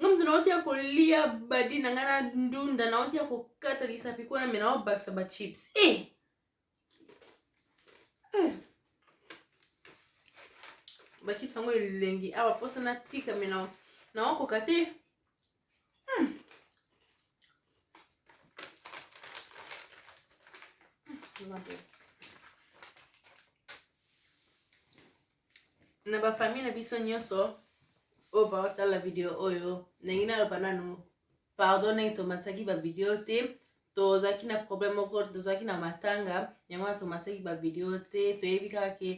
nga moto nauti ya kolia badi na ngai na ndunda nauti ya kokata lisapi kuna me naobakisa bachips e eh! eh! bachips yango elengi awa mposa natika me naokoka te hmm. hmm. na ba famille na biso nyonso oyo baotala video oyo ndenge naloba nanu pardon ndenge tomatisaki bavideo te tozalaki na problème moko tozalaki na matanga yango wana tomatisaki bavideo te toyebi kaka ke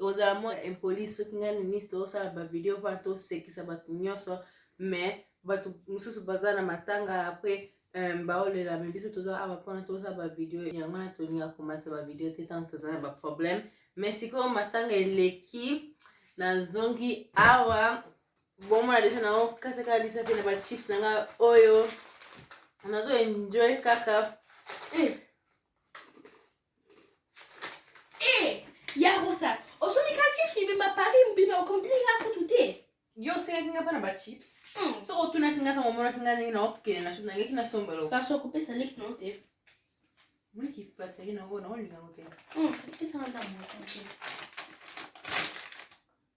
ozala mo impoli soki ngai nini tosala bavideo mpona tosekisa bato nyonso mais bato mosusu baza na matanga apres Um, baolela me biso toza awa mpona toza bavideo yango wana tolinga komasa bavideo te ntango toza na baproblème me sikoyo matanga eleki nazongi awa bomona deja na okatakaka lisa mpe na bachips na nga oyo nazo enjoy kaka eh. Eh, ya rosa osomi ka chips mibimba paris mobimba okombini nga kutu te yo osengaki nga mpo na bachips Hmm. soki otunaki nga ntango omonaki nga ndenge naokende na nangaki nasomba loko kasi okopesa leki na yo te moni kiflateri na yango naolinga yango te Hmm, kasi pesa nga ntango moke.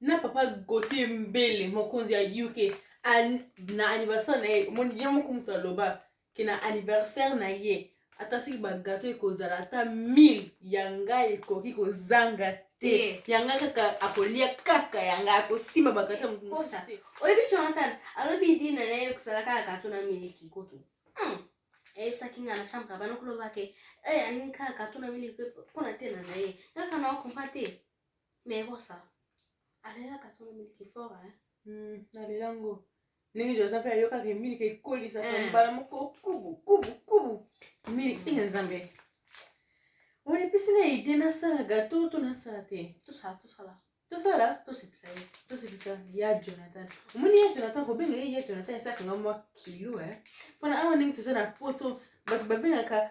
na papa gautier mbele mokonzi ya uk an, na anniversaire na ye omoni ye moko moto aloba ke na anniversaire na ye ata soki bagato ekozala ata 1000 ya ngai ekoki kozanga te ya ngai kaka akolia kaka ya ngai akosimba bagato mokomosa te oyebi jonathan alobi dina na ye kosala kaka gato na miliki kutu hmm. eyebisaki ngai na chambre bana koloba ke eh, alingi kaka gato na miliki mpona te na na ye kaka na okompa te Mais Rosa, alelaka tongo miliki fort hein. Hmm, nalela ngo. Ndenge Jonathan mpe ayokaka miliki ekolisaka eh. mbala moko kubu kubu kubu. Miliki ina nzambe. Wani pesi na idée nasala gato to nasala te. Tosala tosala. Tosala tosepisa ye. Tosepisa ya Jonathan. Omoni ya Jonathan kobenga ye ya Jonathan esaka nga mwa kilo eh. Mpona awa ndenge toza na poto bato babengaka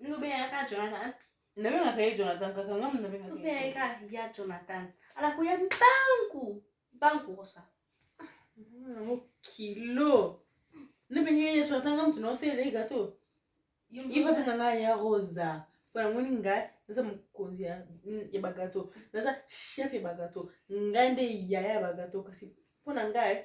nobengaka jonathan nabengaka ye jonathan kaka nga nabengaka ya jonathan alakoya mpangu mpangu kosa yango kilo nabenge ye jonathan nga moto naosele ye gato ivote na nga ya rosa mpo yango ni ngai naza mokonzi ya bagato naza chef ya bagato ngai nde yaya ya bagato kasi mpo na ngai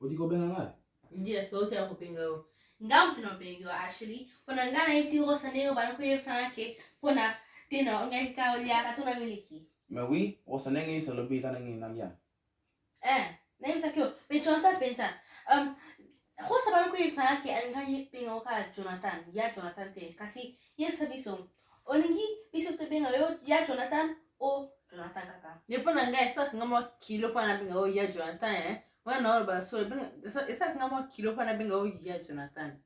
Odi kobenga ngai? Yes, ote ya kobenga yo. Nga mutu na obengi yo Ashley, pona nga na yebisi ngo sa ndenge bana koyebisa nga ke pona te na ongaki ka oliaka to na miliki. Mais oui, osa ndenge yisa lobi ka ndenge na lia. eh nayebisaki yo me jonathan mpenza um, rosa bana koyebisa nga ke alingaki benga yo kaka jonathan ya jonathan te kasi yebisa biso olingi biso tobenga yo ya jonathan o jonathan kaka ye mpo na ngai esalaka nga mwa kilo mpo nabenga yo ya jonathan eh. wana naoloba solo esalaka nga mwa kilo mpo nabenga yo ya jonathan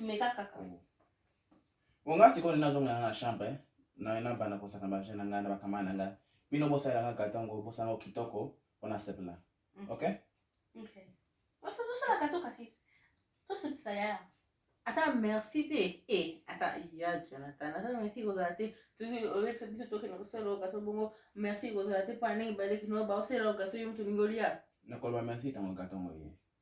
Meka kaka. Bon, nga sikoyo nazonga na nga chambre eh. na na bana kosaka ba jeune na nga na ba kamana na nga. Bino bosala nga katongo bosanga kitoko pona sepla. Mm. Okay? Okay. Wasa tosala katoka si. Tosala ya. Ata merci te. Eh, ata ya Jonathan. Ata merci kozala te. Tuki olekisa biso toke na kosala gato bongo. Merci kozala te pona ndenge baleki no ba osala gato yo mutu lingoli ya. Nakoloba merci tango gato ngoye.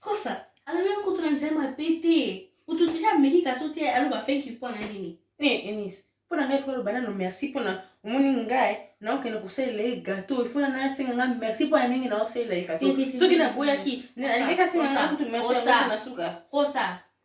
kosa alobeli kutu na nzela mabe te kutu deja ameki kato te aloba fenki mpo na nini eh, enise mpo na ngai fo aloba nano merci mpo na omoni ngai naokende kosalela ye gato ifo na nasenga ngai merci mpo na ndenge naosalela ye gato soki naboyaki alingaki asenga ngai kutu merci na suka kosa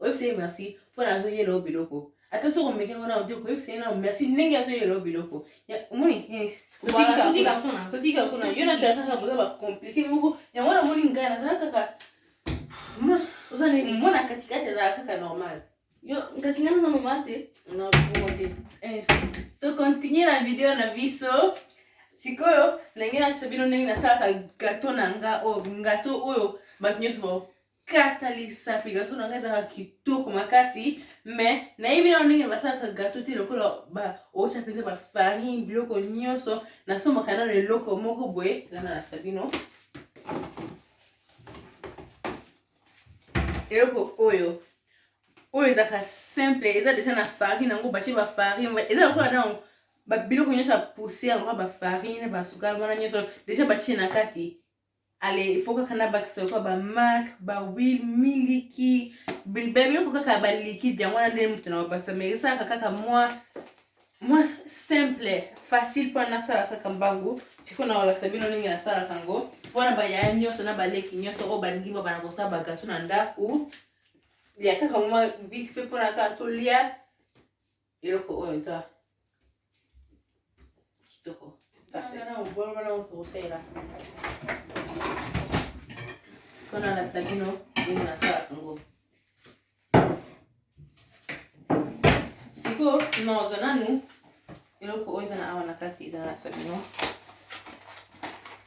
oyebisa ye merci mpo na azoyela yo biloko ata soki omeki yango nao te okoyebisa ye nao merci ndenge azoyela yo biloko omoni totika kuna yo na jonathan boza bacomplike moko yango wana omoni ngai nazala kaka oza nini mwana katikati azala kaka normal yo kasi ngai naza normal te nakomo te eh, tocontinue na video na biso sikoyo ndenge nasa bino ndenge nasalaka gato na nga oyo oh, gato oyo bato nyonso katalisa mpe gato na ngai ezaka kitoko makasi me nayebi nao ndenge basalaka gato te lokola baotya mpenza bafarine biloko nyonso nasombaka nano eloko moko boye zana na sabino eloko oyo oyo ezalaka simple eza deja na farine yango batye bafarine eza lokola nao babiloko nyonso ya poussière lokola bafarine basukala wana nyonso deja batye na kati ale il faut kaka nabakisa lokola ba mark ba wil miliki biloko kaka ba liquide yango wana nde moto na bapasa mais esalaka kaka mwa mwa simple facile mpona nasala kaka mbangu siko na kolakisa bino ndenge nasalaka yango mpona bayaya nyonso na baleki nyonso oyo balingi babana kosala bagato na ndako ya kaka mwa vite mpe mpona kaka tolia eloko oyo eza kitoko tokosalela sikoyo nalakisa bino ndenge nasalaka yango sikoyo naozwa nanu eloko oyo eza na awa na kati eza nalakisa bino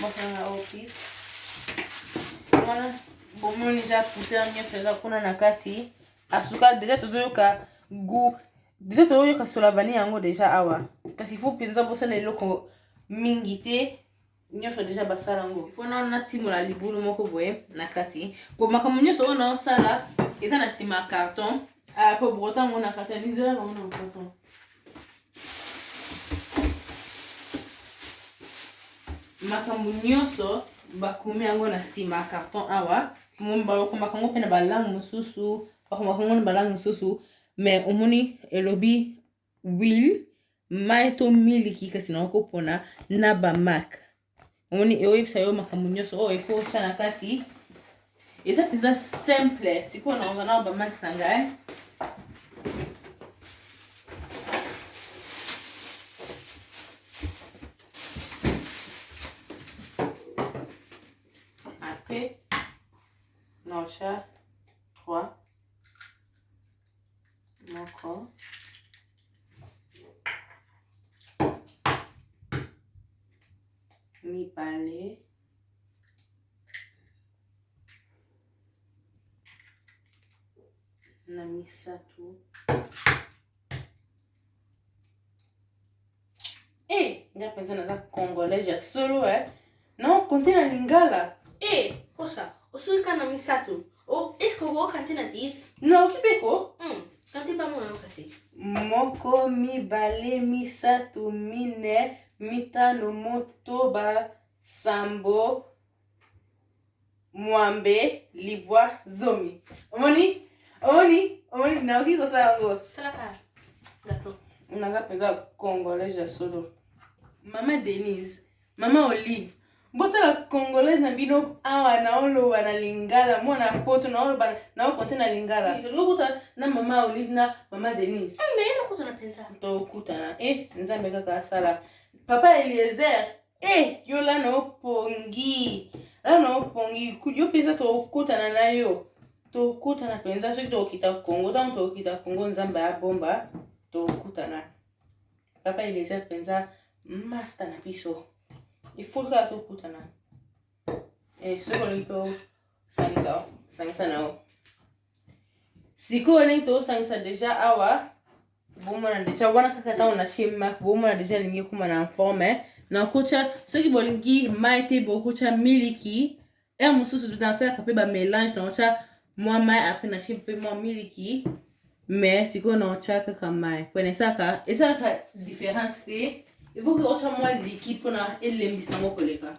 bokanga office wana bomoni eza poussière nyonso eza kuna na kati asuka deja tozoyoka gout deja tozoyoka solavani yango deja awa kasi fo mpenza bosala eloko mingi te nyonso deja basala yango fo na natimola libulu moko boye na kati po makambo nyonso oyo naosala eza na nsima ya carton ah, po brotango na carton lizolaka ngo na carton makambo nyonso bakomi yango na nsima carton awa bakomaka yango mpe na balangue mosusu bakomaka yango na balangue mosusu mais omoni elobi will mai to miliki kasi naokopona na bamake omoni eoyebisa yo makambo nyonso oyo efo otya na kati eza mpenza simple sikoyo na ozana na bamaki na ngai moko mibale na misato Eh, nga penza naza congolais ya solo eh. Na okonte na lingala. Eh, kosa, osoki ka na misato. Oh, eske okoyoka te na 10? Naoki mpe ko. Hmm, kante ba mona yo kasi. Moko, mibale, misato, mine, mitano, motoba, sambo, mwambe libwa zomi omoni omoni omoni naoki kosala yango salaka gato naza mpenza congolaise ya solo mama denise mama olive botala congolaise na bino awa naoloba na lingala mwana ya poto naoloba naokonte na lingala okuta na mama olive na mama denise ah, tokutana e eh, nzambe kaka asala papa eliezer Eh, yo lana opongi. Lana opongi. Yo mpenza tokokutana na yo. Tokutana mpenza soki tokokita Kongo. Ntango tokokita Kongo, Nzambe abomba, tokutana. Papa Eliezer mpenza masta na biso. Il faut kaka tokutana. Eh, soki olingi tosangisa sangisa na yo. Sikoyo olingi tosangisa deja awa bomona deja wana kaka ntango na chez mark bomona deja elingi ekoma na informe eh. nakotya soki bolingi mai te bokotya miliki e mosusu nasalaka mpe bamélange nakotya mwa mai apres natie mpe mwa miliki mais sikoyo nakotya kaka mai mpona esalaka esalaka différence te evoki otya mwa likide mpona elembisa yango koleka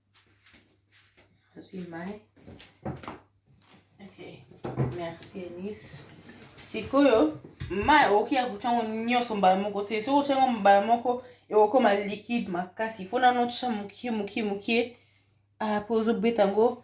nazwi mai okay. merci enis sikoyo mai okoki ya kotya yango nyonso mbala moko te soki otya yango mbala moko ekokoma likide makasi mpo nano otya mokie mokie mokie apo ozobeta yango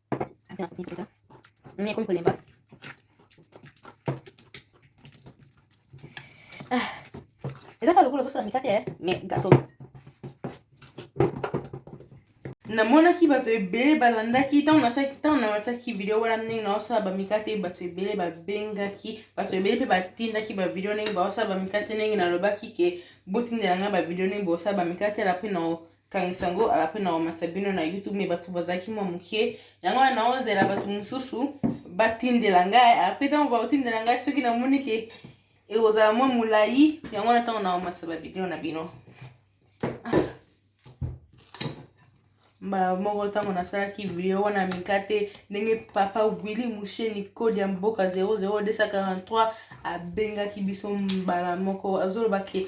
Ah, eza kaka lokola ozosala mikate eh? me gato namonaki bato ebele balandaki ntango nasalaki ntango namatisaki video wana ndenge naosala bamikate bato ebele babengaki bato ebele mpe batindaki bavideo ndenge baosala bamikate ndenge nalobaki ke botindela ngai bavideo ndenge bosala bamikate ala mpe kangisa yango ala mpe na komatisa bino na youtube me bato bazalaki mwa moke yango wana naozela bato mosusu batindela ngai ala mpe ntango bakotindela ngai soki namoni ke ekozala mwa molai yango wana ntango na komatisa bavideo na bino ah. mbala moko ntango nasalaki video wana mikate ndenge papa wili mushe nicode ya mboka 00243 abengaki biso mbala moko azoloba ke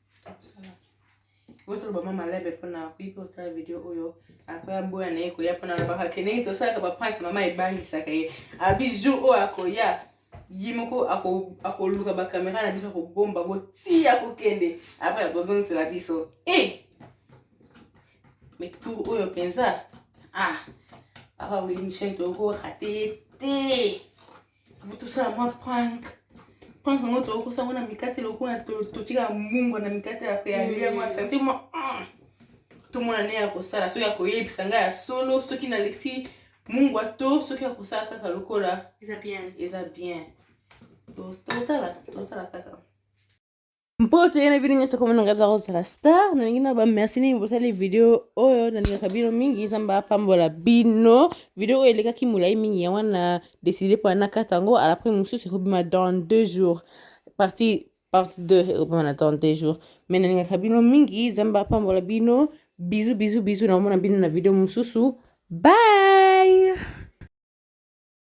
botoloba mama lebe mpona kuipe otala video oyo akoya boya na ye koya mpona alobaka ke ndenge tosalaka bapranke mama ebangisaka ye abi jour oyo akoya ye moko akoluka bakamera na biso akobomba botiya kokende apres akozongisela biso e eh! metour oyo mpenza ah papa wili michel tokorate ye te tosala mwa prank prank yango tokokosa yango na mikate lokola totika mungwa na mikate ya pe yalia yango ya sante mwa ah! tomona nde ya kosala soki akoyebisa ngai ya solo soki nalesi mungwa to soki akosala kaka lokola eza bien eza bien totala totala kaka mpo te na bino nyonso komona ngai azala kozala star nalingi na ba merci nini botali video oyo nalingaka bino mingi zamba apambola bino video oyo elekaki molai mingi ya wana deside mpo anakata yango alapres mosusu ekobima dans deux jours partie part 2 ekobima na dans deux jours mai nalingaka bino mingi zamba apambola bino bizu bizu bizu naomona bino na video mosusu bye